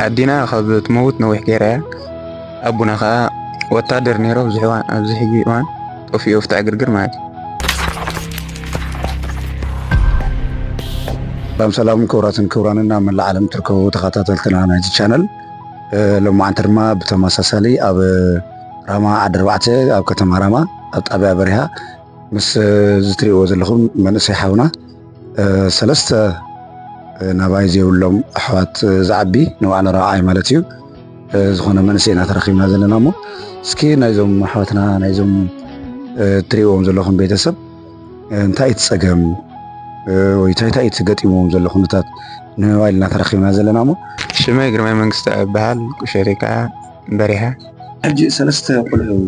ኣዴና ካብ ትመውት ነዊሕ ገይራ እያ ኣቦና ከዓ ወታደር ነይሮ ኣብዚ ሕዋን ኣብዚ ሕጂ እዋን ጠፊኡ ኣብቲ ዕግርግር ማለት እዩ ሰላም ሰላም ክብራትን ክብራንን ኣብ መላእ ዓለም ትርከቡ ተኸታተልትና ናይዚ ቻነል ሎማዓንቲ ድማ ብተመሳሳሊ ኣብ ራማ ዓዲ ኣርባዕተ ኣብ ከተማ ራማ ኣብ ጣብያ በሪሃ ምስ ዝትሪእዎ ዘለኹም መንእሰይ ሓውና ሰለስተ ናባይ ዘይብሎም ኣሕዋት ዝዓቢ ንባዕሉ ረብዓይ ማለት እዩ ዝኾነ መንእሰይ ኢና ተረኪብና ዘለና እሞ እስኪ ናይዞም ኣሕዋትና ናይዞም እትሪእዎም ዘለኹም ቤተሰብ እንታይ እቲ ፀገም ወይ እንታይ እንታይ እቲ ገጢሞም ዘሎ ኩነታት ንምባል ኢና ተረኪብና ዘለና እሞ ሽመይ ግርማይ መንግስቲ እበሃል ቁሸቴ ከዓ በሪሃ ሕጂ ሰለስተ ቆልዑ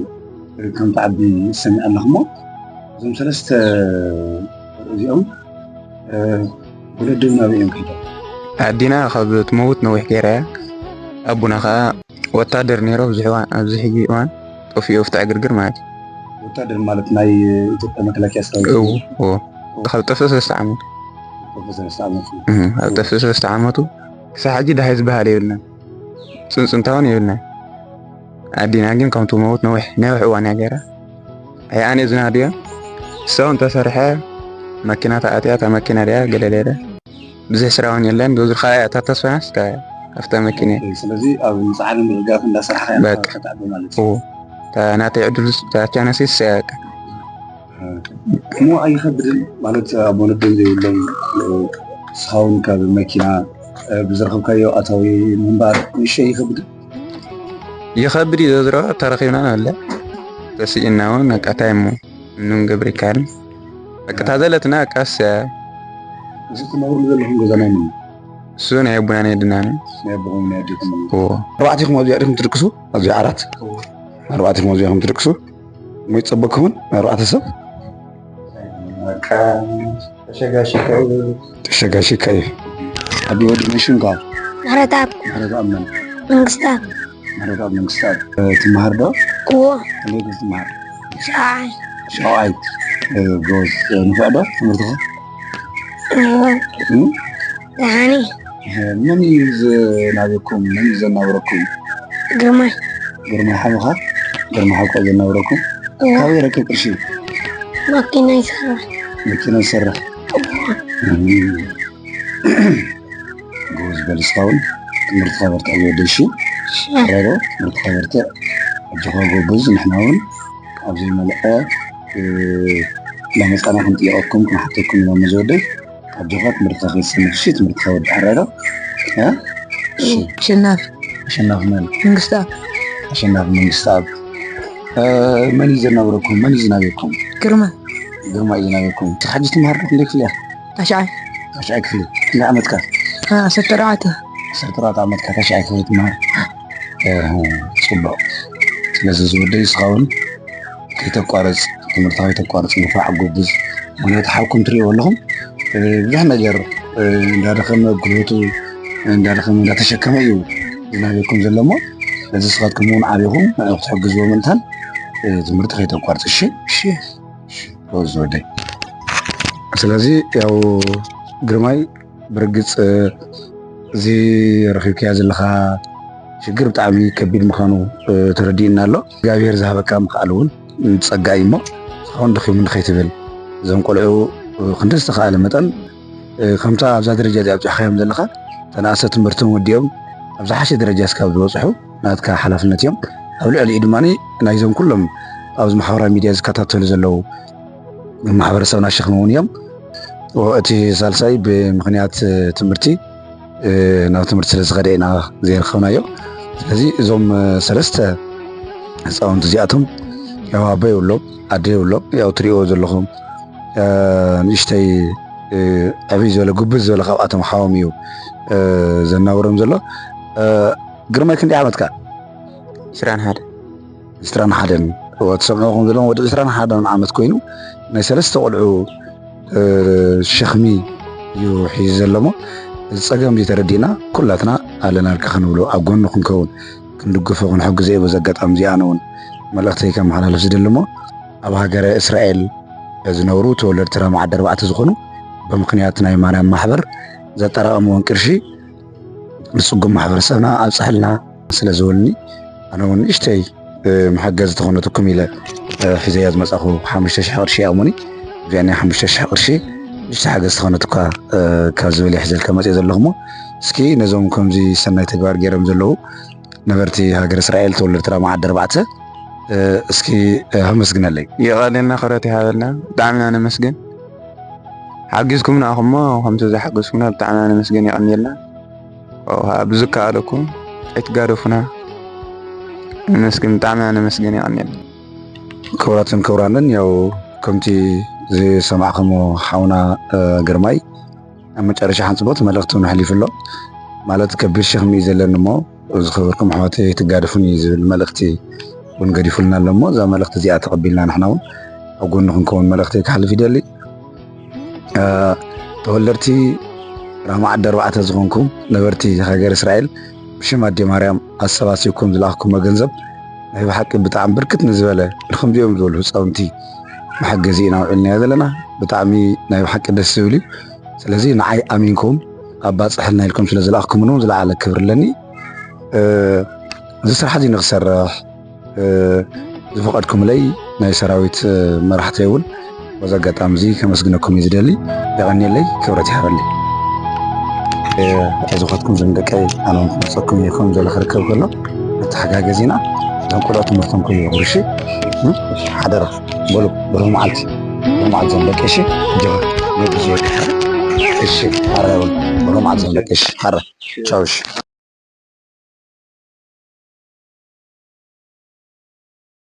ከም ትዓቢ ይሰምዕ ኣለኹ እሞ እዞም ሰለስተ እዚኦም ወለድና ኣበዮም ከይዶም ኣዲና ካብ ትመውት ነዊሕ ገይራ እያ ኣቡና ከዓ ወታደር ነይሮ ኣብዚ ሕጂ እዋን ጠፊኡ ኣብቲ ዕግርግር ማለት እዩ ወታደር ማለት ናይ ኢትዮጵያ መከላከያ ሰራዊት ካብ ጠፍእ ሰለስተ ዓመቱ ኣብ ጠፍእ ሰለስተ ዓመቱ ክሳብ ሕጂ ድሃይ ዝበሃል የብልናን ፅንፅንታውን የብልናን ኣዲና ግን ከምቲ መውት ነዊሕ ነዊሕ እዋን እያ ገይራ ኣይ ኣነ ዝናድዮ ሰው እንተሰርሐ መኪና ተኣትያ እታ መኪና ድያ ገለለለ ብዙሕ ስራውን የለን ብዙ ካያ እታ ተስፋናስ ኣብታ መኪና ስለዚ ኣብ ምፅዓድ ምርጋፍ እንዳሰራሕካ በቃ ማለት እዩ ናተይ ዕድል ቻነሲ ሰያቀ እሞ ኣይኸብድን ማለት ኣብ ወለዶም ዘይብሎም ስኻውን ካብ መኪና ብዝረኸብካዮ ኣታዊ ምንባር ንሸ ይኸብድን ይኸብድ እዩ ዘዝሮ ተረኺብና ኣለ ተስኢና እውን ኣቃታይ እሞ እንም ገብሪ ካን ኣቅታ ዘለትና ኣቃስ እሱ ናይ ኣቡና ናይ ድና ኣርባዕቲኹም ኣብዚ ኣዲኹም ትድቅሱ ኣብዚ ዓራት ኣርባዕቲኹም ኣብዚ ኹም ትድቅሱ ሞይ ፀበክኹን ኣርባዕተ ሰብ ተሸጋሽካ እዩ ኣብ ወዲ መሽን ኳ መረታብ መረታብ መን መንግስታት መረታብ መንግስታት ትመሃር ዶ እዎ ከመይ ትመሃር ሻውዓይ ሻውዓይ ጎዝ ንፍዕ ዶ ትምህርትኻ ደሓኒ መን እዩ ዘናበኩም መን እዩ ዘናብረኩም ግርማይ ግርማይ ሓውኻ ግርማይ ሓውካ ዘናብረኩም ካበይ ረክብ ቅርሺ ማኪና ይሰርሕ መኪና ይሰርሕ ጎበዝ በል እስካሁን ትምህርትካ በርትዕ ዝወደሽ ረዶ ትምህርትካ በርትዕ ኣጆኻ ጎበዝ ንሕና እውን ኣብ ዘይመልኦ ለመፃና ክንጥየቀኩም ክንሓተኩም ኢና መዝወደይ ኣጆኻ ትምህርትካ ከይሰንፍሽ ትምህርትካ ወዲ ዓራዶ ኣሸናፊ ኣሸናፊ መን መንግስታብ ኣሸናፊ መንግስታብ መን እዩ ዘናብረኩም መን እዩ ዝናብኩም ግርማ ግርማ እዩ ዝናብኩም ሕጂ ትምሃር ክንደይ ክፍሊ እያ ታሽዓይ ታሽዓይ ክፍሊ እንዳ ዓመትካ ዓሰርተ ኣርባዕተ ዓሰርተ ኣርባዕተ ዓመትካ ታሽዓይ ክፍሊ ትመሃር ፅቡቅ ስለዚ ዝወደይ እስኻ እውን ከይተቋርፅ ትምህርትኻ ከይተቋርፅ ንፋዕ ጎብዝ ምክንያቱ ሓብኩም ትሪእዎ ኣለኹም ብዙሕ ነገር እንዳደኸመ ጉልበቱ እንዳደኸመ እንዳተሸከመ እዩ ዝናበኩም ዘሎ እሞ ነዚ ስኻትኩም እውን ዓብኹም ንዕኡ ክትሕግዝዎ ምእንታን ትምህርቲ ከይተቋርፅ እሺ ወደይ ስለዚ ያው ግርማይ ብርግፅ እዚ ረኪብካያ ዘለካ ሽግር ብጣዕሚ ከቢድ ምዃኑ ተረዲእና ኣሎ እግዚኣብሔር ዝሃበካ ምክኣል እውን ፀጋ እዩ እሞ እስካሁን ደኺሙ ንኸይትብል እዞም ቆልዑ ክንደ ዝተኸኣለ መጠን ከምታ ኣብዛ ደረጃ እዚ ኣብፅሕካዮም ዘለካ ተናእሰ ትምህርቶም ወዲኦም ኣብ ዝሓሸ ደረጃ እስካብ ዝበፅሑ ናትካ ሓላፍነት እዮም። ኣብ ልዕሊኡ ድማ ናይዞም ኩሎም ኣብዚ ማሕበራዊ ሚድያ ዝከታተሉ ዘለዉ ማሕበረሰብና ሸክሚ እውን እዮም። እቲ ሳልሳይ ብምክንያት ትምህርቲ ናብ ትምህርቲ ስለዝኸደ ኢና ዘይረኸብናዮ። ስለዚ እዞም ሰለስተ ህፃውንቲ እዚኣቶም ያው ኣቦ የብሎም ኣደ የብሎም። ያው ትሪእዎ ዘለኹም ንእሽተይ ዕብይ ዝበለ ጉብዝ ዝበለ ካብኣቶም ሓዎም እዩ ዘናብሮም ዘሎ። ግርማይ ክንደይ ዓመትካ? ዕስራን ሓደን። ዕስራን ሓደን እወ ትሰምዕኹም ዘለኹም ወዲ ዕስራን ሓደን ዓመት ኮይኑ ናይ ሰለስተ ቆልዑ ሸኽሚ እዩ ሒዙ ዘለሞ እዚ ፀገም እዚ ተረዲእና ኩላትና ኣለናልካ ክንብሎ ኣብ ጎኑ ክንከውን ክንድግፎ ክንሕግዘ እዩ በዚ ኣጋጣሚ እዚ ኣነ እውን መልእኽተይ ከመሓላልፍ ዝደሊ እሞ ኣብ ሃገረ እስራኤል ዝነብሩ ተወለድቲ ራማ ዓዲ ኣርባዕተ ዝኾኑ ብምክንያት ናይ ማርያም ማሕበር ዘጠራቐምዎን ቅርሺ ንፅጉም ማሕበረሰብና ኣብፀሐልና ስለ ዝብልኒ ኣነ እውን ንእሽተይ መሓገዝ ተኾነትኩም ኢለ ሒዘያ ዝመፃኹ ሓሙሽተ ሽሕ ቅርሺ ይኣሙኒ እዚኣ ናይ ሓሙሽተ ሽሕ ቅርሺ ንእሽተ ሓገዝ ተኾነትኳ ካብ ዝብል ይሕዘልካ መፅኦ ዘለኹሞ እስኪ ነዞም ከምዚ ሰናይ ተግባር ገይሮም ዘለዉ ነበርቲ ሃገር እስራኤል ተወለድቲ ራማ ዓዲ ኣርባዕተ እስኪ ኣመስግነለይ። የቐኔልና ክብረት ይሃበልና ብጣዕሚ ኢና ነመስግን ሓጊዝኩምና ኢኹም እሞ ከምቲ ዝሓገዝኩምና ብጣዕሚ ኢና ነመስግን የቐኔልና ብዝከኣለኩም ኣይትጋደፉና ነመስግን ብጣዕሚ ኢና ነመስግን የቐኔልና ክብራትን ክብራንን ያው ከምቲ ዝሰማዕከሞ ሓውና ግርማይ ኣብ መጨረሻ ሓንፅቦት መልእኽቱን ኣሕሊፉ ኣሎ ማለት ከቢድ ሸኽሚ እዩ ዘለኒ እሞ ዝኸበርኩም ኣሕዋት ኣይትጋደፉን እዩ ዝብል መልእኽቲ እውን ገዲፉልና ኣሎ እሞ እዛ መልእኽቲ እዚኣ ተቐቢልና ንሕና እውን ኣብ ጎኑ ክንከውን መልእኽቲ ክሓልፍ ይደሊ ተወለድቲ ራማ ዓዲ ኣርባዕተ ዝኾንኩም ነበርቲ ሃገር እስራኤል ብሽም ኣዴ ማርያም ኣሰባሲብኩም ዝለኣኽኩሞ ገንዘብ ናይ ብሓቂ ብጣዕሚ ብርክት ንዝበለ ንከምዚኦም ዝበሉ ህፃውንቲ መሐገዚ ኢና ውዒልናዮ ዘለና ብጣዕሚ ናይ ብሓቂ ደስ ዝብል እዩ ስለዚ ንዓይ ኣሚንኩም ኣባፅሐልና ኢልኩም ስለ ዝለኣኽኩምኒ እውን ዝለዓለ ክብሪ ኣለኒ እዚ ስራሕ እዚ ንክሰርሕ ዝፈቐድኩምለይ ናይ ሰራዊት መራሕቲ እውን በዚ ኣጋጣሚ እዚ ከመስግነኩም እዩ ዝደሊ የቐኒየለይ ክብረት ይሃበለይ ዝኸትኩም ዝምደቀይ ኣነ ክመፀኩም ይኹም ዘለ ክርከብ ከሎ ተሓጋገዚና እቶም ቆልዑ ትምህርቶም ከይወግሩ እሺ ሓደራ በሉ በሉ መዓልቲ መዓልቲ ዞም ደቂ እሺ ጀባ ነግዞ እሺ ሓራ ይበሉ በሉ መዓልቲ ዞም ደቂ እሺ ሓራ ቻው እሺ